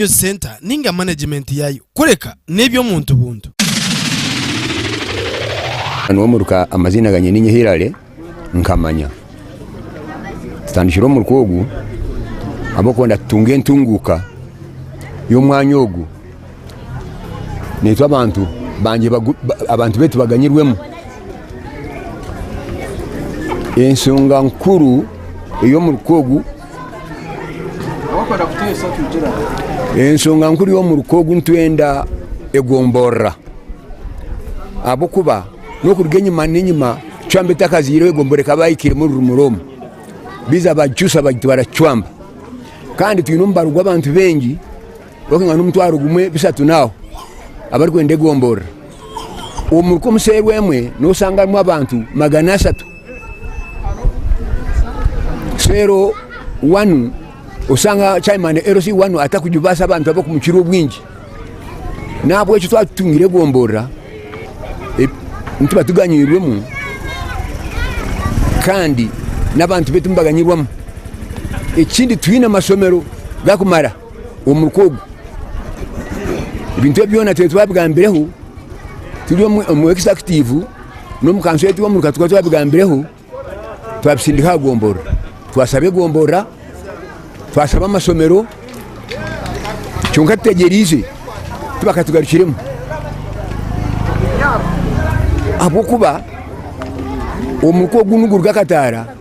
Revenue Centre ninga management yaayo kureka n'eby'omuntu buntu. Nyowe omuruka amaziina ganye ninye Hillary Nkamanya. Tutandikire omuruka ogu ahabw'okubonda tutunga entunguuka y'omwanya ogu neitwe abantu bangye abantu baitu baganyirwemu. Enshonga nkuru ey'omuruka ogu. Enshonga nkuru y'omuruka ogu nitwenda egomborora ahabw'okuba n'okuruga enyima n'enyima cwamba etakazaireho egomborora ekaba yahikiremu orurumuri omu biza bagicuusa bagita baracwamba kandi twine omubaro gw'abantu baingi Bakangana omutwaro gumwe bishatu n'aho abarikwenda egomborora. Omuri komuseru emwe nosanga harimu abantu magana ashatu. Seru wanu osanga chaimani LC wanu atakujubasa abantu abakumukira obwingi. Nahabwekyo twatutungire egomborora nituba tuganyirwemu kandi n'abantu betu nibaganyirwamu. Ekindi twine amasomero gakumara. Omuruka ogu, ebintu ebi byona twire twabigambireho turi omu executive n'omu kanso egi omuruka tukaba twabigambireho, twabisindika aha gomborora. Twashaba egomborora, twashaba amashomero, kyonka tutegyereize tibakatugarukiremu ahabw'okuba omuruka ogu niguruga Kataara.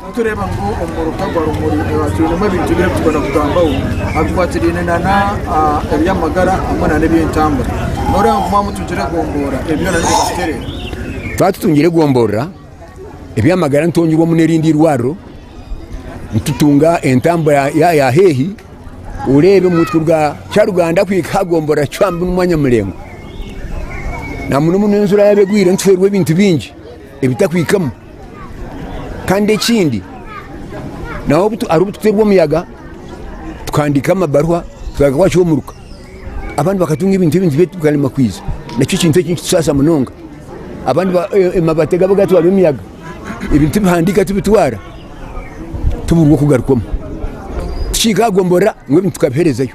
Nitureeba ngu omu muruka gwa Rumuri twinemu ebintu bibiri ebi turikwenda kugambaho ebikwatiraine n'eby'amagara hamwe n'eby'entambura. Nooreeba ngu mwamutungire egomboora ebi byona nibiba biterire? Twatutungire egomboora, eby'amagara nitwongyerwamu n'erindi eirwariro, nitutunga entambura ya haihi. Oreebe omutwe kuruga Kyaruganda kuhika aha gomboora ya Cwambu n'omwanya muraingwa. Namunomuno enjura yaaba egwire nituhweerwa ebintu bingi ebitakuhikamu. Kandi ekindi naho hariho obu tuterwa omuyaga tukahandika amabaruha tukareka gwakiha omuruka abandi bakatunga ebintu ebindi beitu bikarema kwiza nekyo ekintu eki nikitusaasa munonga abandi amabaati gaba gatwarwa emiyaga ebintu tibihandika tibitwara tibiruga kugarukwamu tikikagomborora ngu ebintu tukabiherezayo.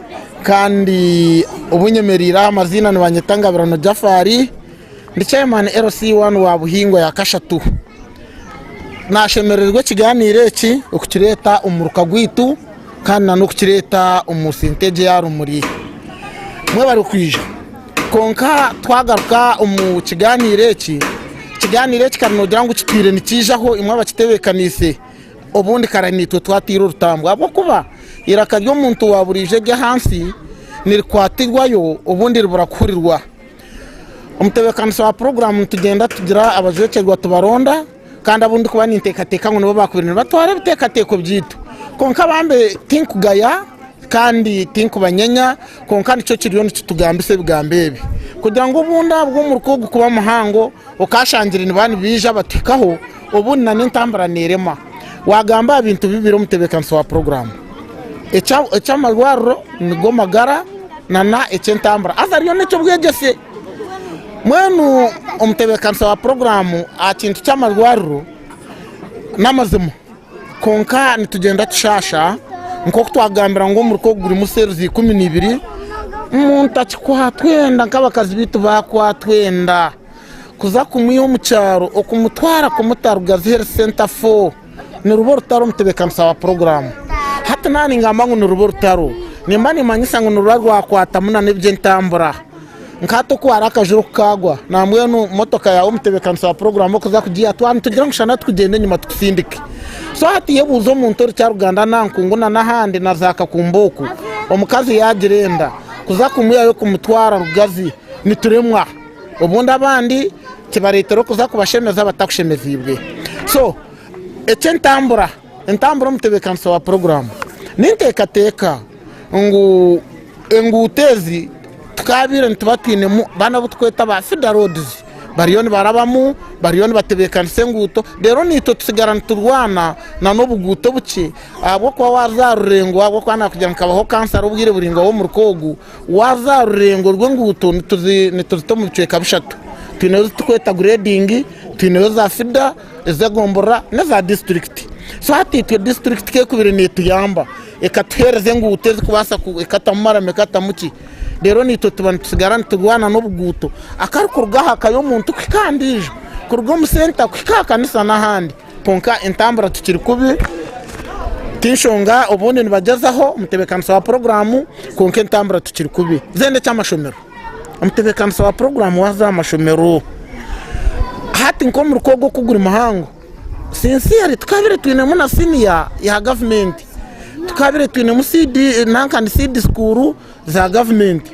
Kandi obu nyemereire aha amaziina nibanyeta Ngabirano Jafari ndi Chairman LC I wa Buhingwa ya kashatu. Nashemerererwa ekiganiro eki okukireta omu muruka gwaitu kandi na n'okukireta omu sente egyo eya Rumuri. Mwebare kwija. Kwonka twagaruka omu kiganiro eki, ekiganiro eki kare nogira ngu kitwire nikiija ho imwe abakitebekaniise. Obundi kare naitwe twataire orutambwe ahabw'okuba eiraka ry'omuntu wa buriijo ery'aha nsi nirikwatirwayo obundi ribura kuhurirwa. Omutebeekanisa wa puroguraamu nitugyenda tugira abajwekyerwa tubaronda kandi abu ndikuba ninteekateeka ngu nibo baakubaire nibatwara ebiteekateeko byaitu. Kwonka bambi tinkugaya kandi tinkubanyenya kwonka nikyo kiriyo nikitugambisa ebigambo ebi kugira ngu obundaabwo omurukwe ogu kuba muhango okaashangire nibaaba nibaija batuhikaho, Obundi na n'entambura neerema. Waagamba aha bintu bibiri omutebeekanisa wa puroguraamu, eky'amarwariro nigo magara na na eky'entambura haza reero n'eky'obwegyese. Mbwenu omutebeekanisa wa puroguraamu aha kintu ky'amarwariro n'amazima kwonka nitugyenda tushaasha nk'oku twagambira ngu omuruka ogu gurimu cells ikumi na ibiri, muntakikwatwa enda nk'abakazi baitu baakwatwa enda. Kuza kumwiha omu kyaro okumutwara kumuta Rugazi Health Centre IV niruba orutaro omu tebeekanisa wa puroguraamu. Hati naaba ningamba ngu niruba orutaro, nimba nimmanyisa ngu niruba rwakwatamu nana eby'entambura. Nka hati oku hariho akajura oku kaagwa, na mbwenu motoka yaawe omu tebeekanisa wa puroguraamu okuza kugiiha twaba nitugira ngu shana tukugyenda enyima tukusindike. So hati iwe buuza omuntu ori Kyaruganda na Nkungu na n'ahandi na za Kakumba oku, omukazi yaagira enda, kuza kumwihayo kumutwara Rugazi nituremwa. Obundi abandi kibareetera okuza kubashemeza batakushemeziibwe. So eky'entambura, entambura omutebeekanisa wa puroguraamu n'enteekateeka ngu enguuto ezi tukaabaire nituba twinemu baana abu tukweta ba fida roads bariyo nibarabamu bariyo nibatebeekanisa enguuto reero naitwe tusigara niturwana na n'obuguuto obukye ahabw'okuba waaza aha rurengo ahabw'okuba naakugira ngu nkabaho kansara obwire buraingwa bw'omuruka ogu Waaza aha rurengo rw'enguuto nituzita omu bicweka bishatu. Twineho ezi turikweta gureedingi, twineho eza fida, ez'egombora n'eza disiturikiti. So hati itwe disiturikiti ku ekubire neetuyamba ekatuheereza enguuto ezikubaasa ekatamu marama ekatamu ki reero naitwe tuba nitusigara niturwana n'obuguuto akarikuruga aha ka y'omuntu kuhika aha ndiijo, kuruga omu senta kuhika aha kanisa n'ahandi. Kwonka entambura tikiri kubi, tinshonga obundi nibagyezaho omutebeekanisa wa puroguraamu kwonka entambura tikiri kubi. Then eky'amashomero, omutebeekanisa wa puroguraamu waaza aha mashomero hati nk'omurukwa ogu oku guri muhango, sincerely tukaabire twinemu na siniya ya gavumenti, tukaabire twinemu siidi nanka ni siidi skuuru, za gavumenti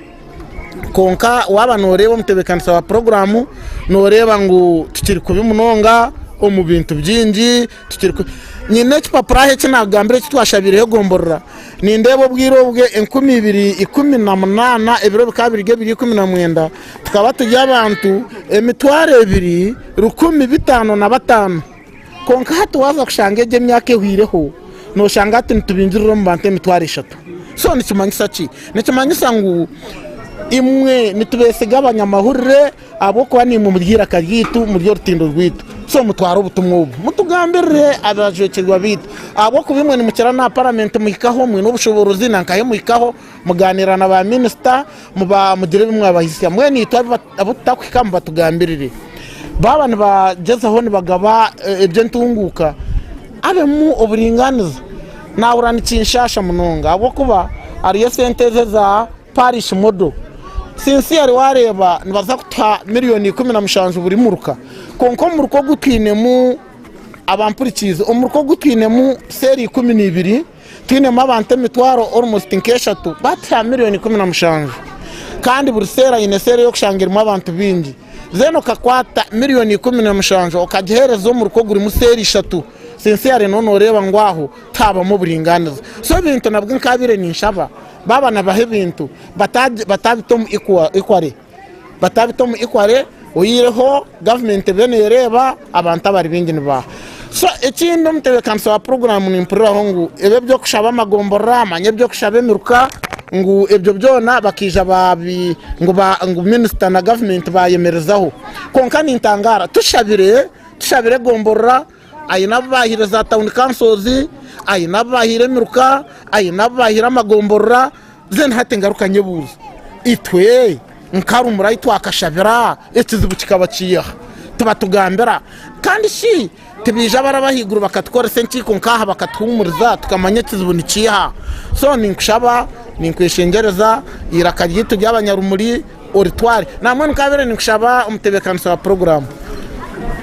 kwonka waaba nooreeba omutebeekanisa wa puroguraamu nooreeba ngu tikiri kubi munonga omu bintu bingi nyine ekipapura aha eki naakugambira eki twashabireho egomborora nindeeba obwire obwo enkumi ibiri ikumi na munaana ebiro bikaba biri ebiri ikumi na mwenda tukaba turi abantu emitwaro ebiri rukumi bitaano na bataano Kwonka hati waaza kushanga egyo emyaka ehweireho, nooshanga hati nitubingirira omu bantu emitwaro eshatu. So nikimanyisa ki? Nikimanyisa ngu imwe nitubeesiga abanyamahurire ahabw'okuba niimwe muri eiraka ryaitu, muri orutindo rwaitu. So mutware obutumwa obu mutugambirire abajwekyerwa baitu, ahabw'okuba imwe nimukira n'aha paramenti muhikaho, mwine obushoboorozi nankahe muhikaho, mugaaniira na baaminisita, mugira ebi mwabahisya. Mbwenu itwe Abu tutakuhika ngu batugambirire. Baaba nibagyezaho nibagaba eh, eby'entunguuka, abemu oburingaaniza. Naahurira nikinshaasha munonga ahabw'okuba hariyo esente ezi eza parish model. Sincerely waareeba nibaza kutuha milioni ikumi na mushanju buri muruka, kwonka omuruka ogu twinemu, abampurikiize, omuruka ogu twinemu seeri ikumi na ibiri. Twinemu abantu emitwaro orumusti nk'eshatu bati ha miriyoni ikumi na mushanju kandi buri seera aine seera ey'okushanga erimu abantu baingi then okakwata miriyoni ikumi na mushanju okagiheereza omuruka ogurimu seera ishatu sincerely noba nooreeba ngu aho tihabamu oburingaaniza so ebintu nabwo nkaabaire ninshaba baaba nibaha ebintu bataabita omu equal equally batabita omu ikware oyireho gavumenti eriyo neereeba abantu abari baingi nibaaha so ekindi omutebeekanisa wa puroguraamu nimpuriraho ngu ebi eby'okushaba amagomborora manya eby'okushaba emiruka ngu ebyo byona bakaija baabi ngu ngu minisita na gavumenti baayemerezaho kwonka nintangaara tushabire tushabire egomborora aine abu baahaire za town councils aine abu baahaire emiruka aine abu baahaire amagomborora then hati ngaruka nyebuuze itwe nka rumuri ahu twakashabira ekizibu kikaba kiri aha tibatugambira kandi shi tibaija abaraba ahaiguru bakatukoresa enkiiko nk'aha bakatuhuumuriza tukamanya ekizibu nikiiha so ninkushaba ninkweshengyereza eiraka ryaitu ry'abanyarumuri Oritware namwe nkaabire ninkushaba omutebeekanisa wa puroguraamu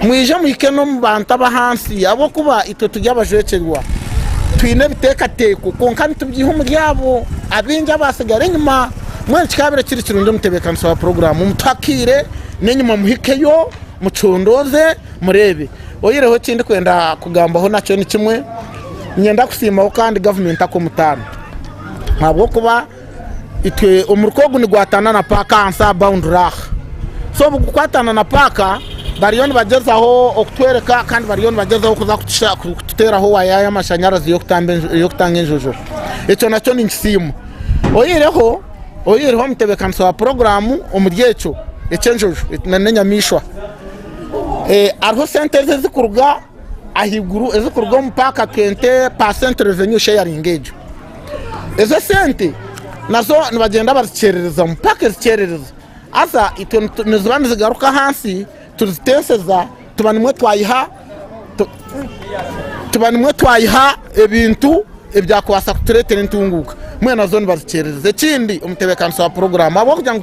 mwije muhike n'omu bantu ab'ahansi ahabw'okuba itwe turi abajwekyerwa twine ebiteekateeko kwonka nitubyiha omuri abo abaingi abaatsigara enyima mbwenu kikaabire kiri kirungi omutebeekanisa wa puroguraamu mutuhe akaire n'enyima muhikeyo mucondooze mureebe oyihireho eki ndikwenda kugambaho nakyo nikimwe niinyenda kusiimaho kandi gavumenti akomutanto ahabw'okuba itwe omurika ogu nigwatana na paaka ahansi aha bawunduri aha so obu gukwatana na paaka bariyo nibagyezaho okutworeka kandi bariyo nibagyezaho kuza kutusha- ku- kututeeraho waya y'amashanyarazi y'okutamba enju- y'okutanga enjojo ekyo nakyo ninkisiima oyihireho oyihireho omutebeekanisa wa poroguraamu omuri ekyo eky'enjojo n'enyamaishwa Eh, hariho sente ezi ezikuruga ahaiguru ezikuruga omu paaka kente percent revenue sharing egyo ezo esente nazo nibagyenda bazikyerereza paaka ezikyerereza haza itwe niziba nizigaruka ahansi tuzitenseza tuba nimwo twayiha tuba nimwo twayiha ebintu ebyakubaasa kutureetera entunguuka mbwenu nazo nibazikyerereza ekindi omutebeekanisa wa puroguraamu ahabw'okugira ngu